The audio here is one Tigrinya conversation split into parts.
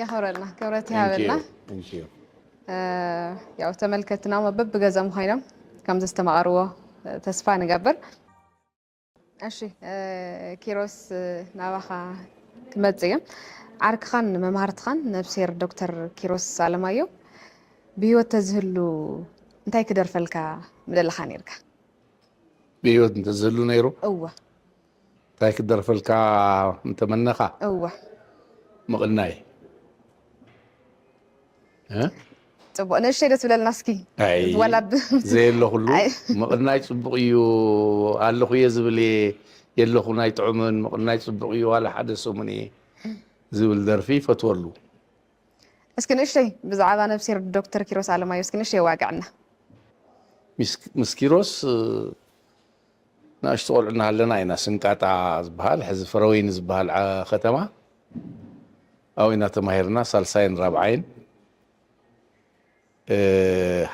የኽብረልና ክብረት ይሃበልና ያው ተመልከትና በብገዘም ኮይኖም ከም ዘስተማቐርዎ ተስፋ ንገብር እሺ ኪሮስ ናባኻ ክመጽእ እየ ዓርክኻን መምሃርትኻን ነብሴር ዶክተር ኪሮስ ኣለማዮ ብሂወት ተዝህሉ እንታይ ክደርፈልካ ምደለኻ ነርካ ብሂወት እንተዝህሉ ነይሩ እወ እንታይ ክደርፈልካ እንተመነኻ እወ ምቕናይ ፅቡቅ ንእሽተይ ዶ ትብለልና እስኪ ዋላ ዘየለኹሉ ምቕናይ ፅቡቅ እዩ ኣለኹ እየ ዝብል እየ የለኹን ኣይጥዑምን ምቕናይ ፅቡቅ እዩ ዋላ ሓደ ሰሙን እየ ዝብል ደርፊ ይፈትወሉ እስኪ ንእሽተይ ብዛዕባ ነብሲር ዶክተር ኪሮስ ኣለማዮ እስኪ ንእሽተይ ዋግዕና ምስ ኪሮስ ንእሽቶ ቆልዑ እናሃለና ኢና ስንቃጣ ዝበሃል ሕዚ ፍረወይኒ ዝበሃል ከተማ ኣብኡ ኢና ተማሂርና ሳልሳይን ራብዓይን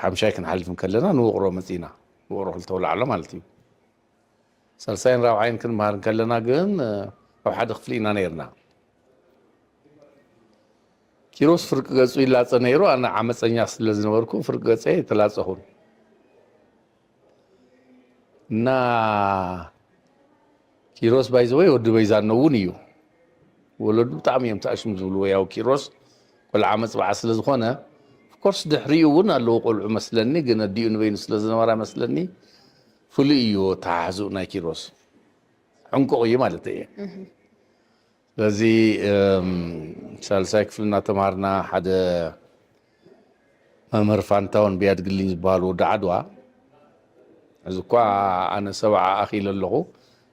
ሓምሻይ ክንሓልፍ እንከለና ንውቕሮ መጺእና ውቕሮ ክልተ ኣውላዕሎ ማለት እዩ ሳልሳይን ራብዓይን ክንመሃር እንከለና ግን ኣብ ሓደ ክፍሊ ኢና ነይርና ኪሮስ ፍርቂ ገጹ ይላጸ ነይሩ ኣነ ዓመጸኛ ስለ ዝነበርኩ ፍርቂ ገጸ ተላጸኹን እና ኪሮስ ባይዘወይ ወዲ በይዛኖ እውን እዩ ወለዱ ብጣዕሚ እዮም ተኣሽም ዝብልዎ ያው ኪሮስ ቆልዓ መፅባዓ ስለ ዝኾነ ኮርስ ድሕሪኡ እውን ኣለዎ ቆልዑ መስለኒ ግን ኣዲኡ ንበይኑ ስለ ዝነበራ መስለኒ ፍሉይ እዩ ተሓሕዝኡ ናይ ኪሮስ ዕንቁቕ እዩ ማለት እየ ስለዚ ሳልሳይ ክፍሊ እናተምሃርና ሓደ መምህር ፋንታውን ቢያድግልኝ ዝበሃል ወዲ ዓድዋ እዚ እኳ ኣነ ሰብዓ ኣኺለ ኣለኹ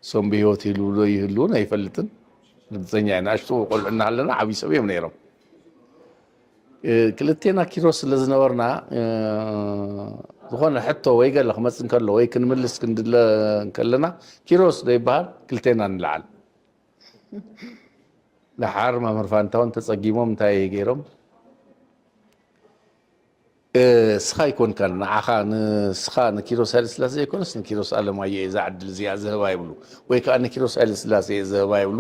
እሶም ብሂወት ይህልው ዶ ይህልውን ኣይፈልጥን ርግፀኛ እየ ንኣሽቱ ቆልዑ እናሃለና ዓብዪ ሰብ እዮም ነይሮም ክልቴና ኪሮስ ስለ ዝነበርና ዝኾነ ሕቶ ወይ ገለ ክመፅ እንከሎ ወይ ክንምልስ ክንድለ እንከለና ኪሮስ ዶ ይበሃል ክልቴና ንለዓል ደሓር መምህር ፋንታውን ተጸጊሞም እንታይ እየ ገይሮም እስኻ ኣይኮንካን ንዓኻ ንስኻ ንኪሮስ ሃይለ ስላሴ ዘይኮነስ ንኪሮስ ኣለማዮ እየ ዛዕድል እዚኣ ዝህባ ይብሉ ወይ ከዓ ንኪሮስ ሃይለ ስላሴ እየ ዝህባ ይብሉ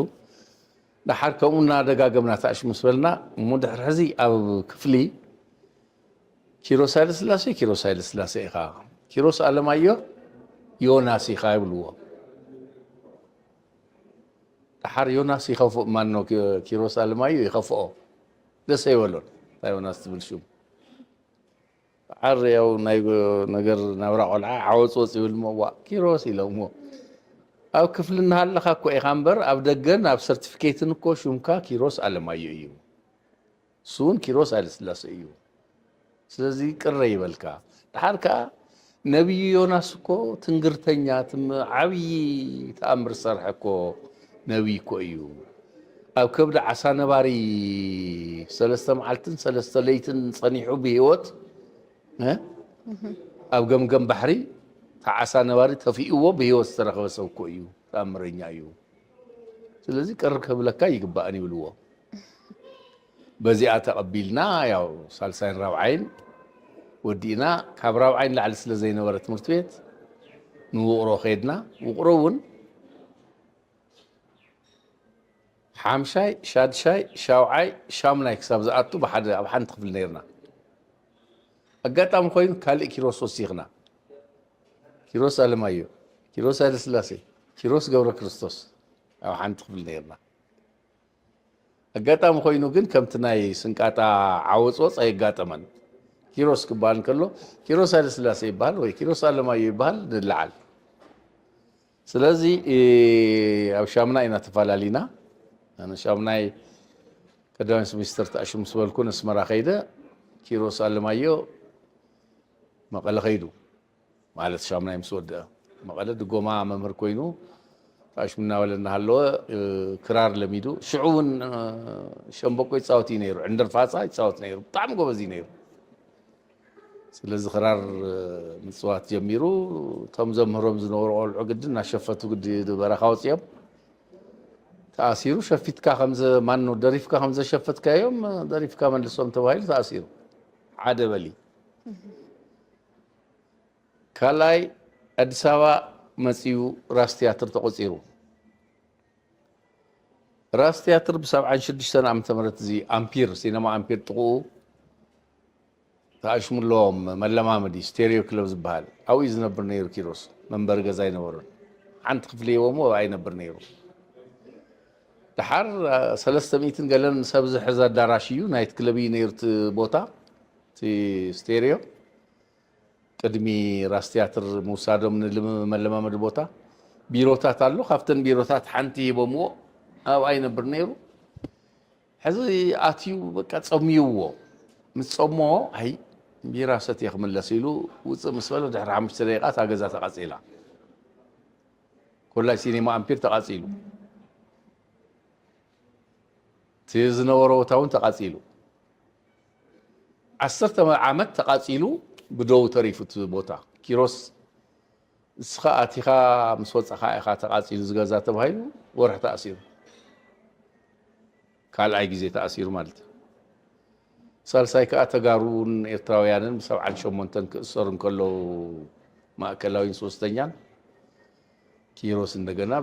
ድሓር ከምኡ እናደጋገምና ታእሽ ምስ በልና እሞ ድሕሪ ሕዚ ኣብ ክፍሊ ኪሮስ ሃይለ ስላሴ ኪሮስ ሃይለ ስላሴ ኢኻ ኪሮስ ኣለማዮ ዮናስ ኢኻ ይብልዎ ደሓር ዮናስ ይኸፍእ ማኖ ኪሮስ ኣለማዮ ይኸፍኦ ደስ ኣይበሎን እታ ዮናስ ትብል ሹም ደሓር ያው ናይ ነገር ናብራ ቆልዓ ዓወፅወፅ ይብል እሞ ዋ ኪሮስ ኢሎምዎ ኣብ ክፍሊ እናሃለኻ እኮ ኢኻ እምበር ኣብ ደገን ኣብ ሰርቲፊኬትን እኮ ሹምካ ኪሮስ ኣለማዮ እዩ ንሱውን ኪሮስ ሃይለስላሰ እዩ ስለዚ ቅረ ይበልካ ድሓር ከኣ ነብዩ ዮናስ እኮ ትንግርተኛ ዓብዪ ተኣምር ዝሰርሐ እኮ ነብይ እኮ እዩ ኣብ ከብዲ ዓሳ ነባሪ ሰለስተ መዓልትን ሰለስተ ለይትን ጸኒሑ ብሂወት ኣብ ገምገም ባሕሪ ተዓሳ ነባሪ ተፊእዎ ብሂወት ዝተረኸበ ሰብ እኮ እዩ ተኣምረኛ እዩ ስለዚ ቅር ከብለካ ኣይግባእን ይብልዎ። በዚኣ ተቐቢልና ያው ሳልሳይን ራብዓይን ወዲእና ካብ ራብዓይ ንላዕሊ ስለ ዘይነበረ ትምህርቲ ቤት ንውቕሮ ከድና ውቕሮ እውን ሓምሻይ ሻድሻይ ሻውዓይ ሻሙናይ ክሳብ ዝኣቱ ብሓደ ኣብ ሓንቲ ክፍሊ ነርና ኣጋጣሚ ኮይኑ ካልእ ኪሮስ ወሲኽና ኪሮስ ኣለማዮ ኪሮስ ሃይለስላሴ ኪሮስ ገብረ ክርስቶስ ኣብ ሓንቲ ክፍሊ ነርና ኣጋጣሚ ኮይኑ ግን ከምቲ ናይ ስንቃጣ ዓወፅወፅ ኣየጋጠመን ኪሮስ ክበሃል እንከሎ ኪሮስ ሃይለስላሴ ይበሃል ወይ ኪሮስ ኣለማዮ ይበሃል ንለዓል ስለዚ ኣብ ሻሙናይ ኢና ተፋላሊና ኣነ ሻሙናይ ቀዳማይ ሚኒስትር ተኣሽም ምስ በልኩ ነስመራ ከይደ ኪሮስ ኣለማዮ መቐለ ከይዱ ማለት ሻሙናይ ምስ ወድአ መቐለ ድጎማ መምህር ኮይኑ ተኣሽሙ እናበለ እናሃለወ ክራር ለሚዱ ሽዑ እውን ሸምበቆ ይፃወት እዩ ነይሩ ዕንደር ፋፃ ይፃወት ነይሩ ብጣዕሚ ጎበዝ እዩ ነይሩ ስለዚ ክራር ምፅዋት ጀሚሩ እቶም ዘምህሮም ዝነበሩ ቆልዑ ግድን እናሸፈቱ ግዲ በረኻ ወፂኦም ተኣሲሩ ሸፊትካ ከምዘ ማኑ ደሪፍካ ከምዘሸፈትካዮም ደሪፍካ መልሶም ተባሂሉ ተኣሲሩ ሓደ በሊ ካልኣይ ኣዲስ ኣበባ መፅኡ ራስ ትያትር ተቆፂሩ ራስ ትያትር ብ ሰብዓን ሽዱሽተን ዓመተ ምህረት እዚ ኣምፒር ሲነማ ኣምፒር ጥቕኡ ተኣሽሙ ኣለዎም መለማመዲ ስቴሪዮ ክለብ ዝበሃል ኣብኡ እዩ ዝነብር ነይሩ ኪሮስ መንበሪ ገዛ ኣይነበሮን ሓንቲ ክፍሊ ሂቦሞ ኣብኣ ይነብር ነይሩ ድሓር ሰለስተ ሚእትን ገለን ሰብ ዝሕዘ ኣዳራሽ እዩ ናይት ክለብ እዩ ነይሩ እቲ ቦታ እቲ ስቴሪዮ ቅድሚ ራስ ትያትር ምውሳዶም ንመለማመዲ ቦታ ቢሮታት ኣሎ ካብተን ቢሮታት ሓንቲ ሂቦምዎ ኣብኣ ይነብር ነይሩ ሕዚ ኣትዩ በቃ ጸምዩዎ ምስ ጸሞ ኣይ ቢራ ሰትየ ክምለስ ኢሉ ውፅእ ምስ በለ ድሕሪ ሓሙሽተ ደቂቃ እታ ገዛ ተቓጺላ ኮላይ ሲኔማ ኣምፒር ተቓጺሉ እቲ ዝነበሮ ቦታ እውን ተቓጺሉ ዓሰርተ ዓመት ተቓጺሉ ብዶው ተሪፉ እቲ ቦታ። ኪሮስ ንስኻ ኣቲኻ ምስ ወጻኻ ኢኻ ተቓጺሉ እዚ ገዛ ተባሂሉ ወርሒ ተኣሲሩ። ካልኣይ ግዜ ተኣሲሩ ማለት እዩ። ሳልሳይ ከዓ ተጋሩን ኤርትራውያንን ብሰብዓን ሸሞንተን ክእሰሩ እንከለዉ ማእከላዊን ሶስተኛን ኪሮስ እንደገና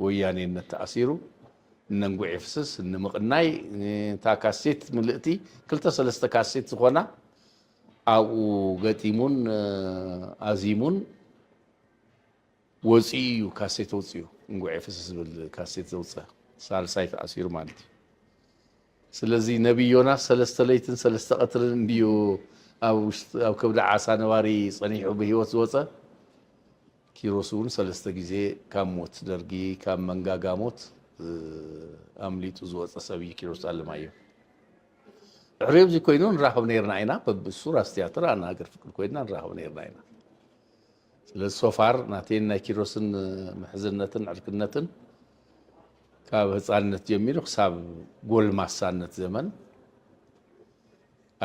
ወያኔነት ተኣሲሩ እነንጉዕ የፍስስ ንምቕናይ እታ ካሴት ምልእቲ ክልተ ሰለስተ ካሴት ዝኾና ኣብኡ ገጢሙን ኣዚሙን ወፂኡ እዩ ካሴት ወፅኡ እንጉዕ የፍስስ ዝብል ካሴት ዘውፀ ሳልሳይ ተኣሲሩ ማለት እዩ ስለዚ ነቢይ ዮናስ ሰለስተ ለይትን ሰለስተ ቀትርን እንድዩ ኣብ ከብዲ ዓሳ ነባሪ ፀኒሑ ብሂወት ዝወፀ ኪሮስ እውን ሰለስተ ግዜ ካብ ሞት ደርጊ ካብ መንጋጋ ሞት ኣምሊጡ ዝወፀ ሰብ እዩ ኪሮስ ኣለማየሁ። ድሕሪ እዚ ኮይኑ ንራኸብ ነይርና ኢና በብእሱር ኣስትያትር ኣና ሃገር ፍቅር ኮይና ንራኸብ ነይርና ኢና። ስለዚ ሶፋር ናተይን ናይ ኪሮስን ምሕዝነትን ዕርክነትን ካብ ህፃንነት ጀሚሩ ክሳብ ጎልማሳነት ዘመን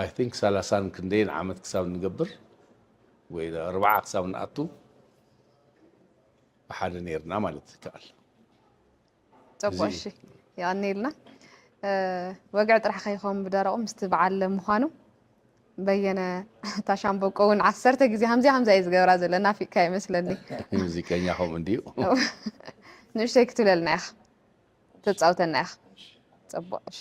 ኣይ ቲንክ ሰላሳን ክንደይን ዓመት ክሳብ ንገብር ወይ ኣርባዓ ክሳብ ንኣቱ ብሓደ ነርና ማለት ይከኣል ፀቡቅ እሺ ይቀኒልና ወግዒ ጥራሕ ከይኸውን ብደረቑ ምስቲ በዓል ምዃኑ በየነ ታሻምበቆ እውን ዓሰርተ ግዜ ከምዚ ከምዚ እዩ ዝገብራ ዘሎ ናፊቅካ ይመስለኒ ሙዚቀኛ ከምኡ እንድዩ ንእሽተይ ክትብለልና ኢኻ ተፃውተና ኢኻ ፅቡቅ እሺ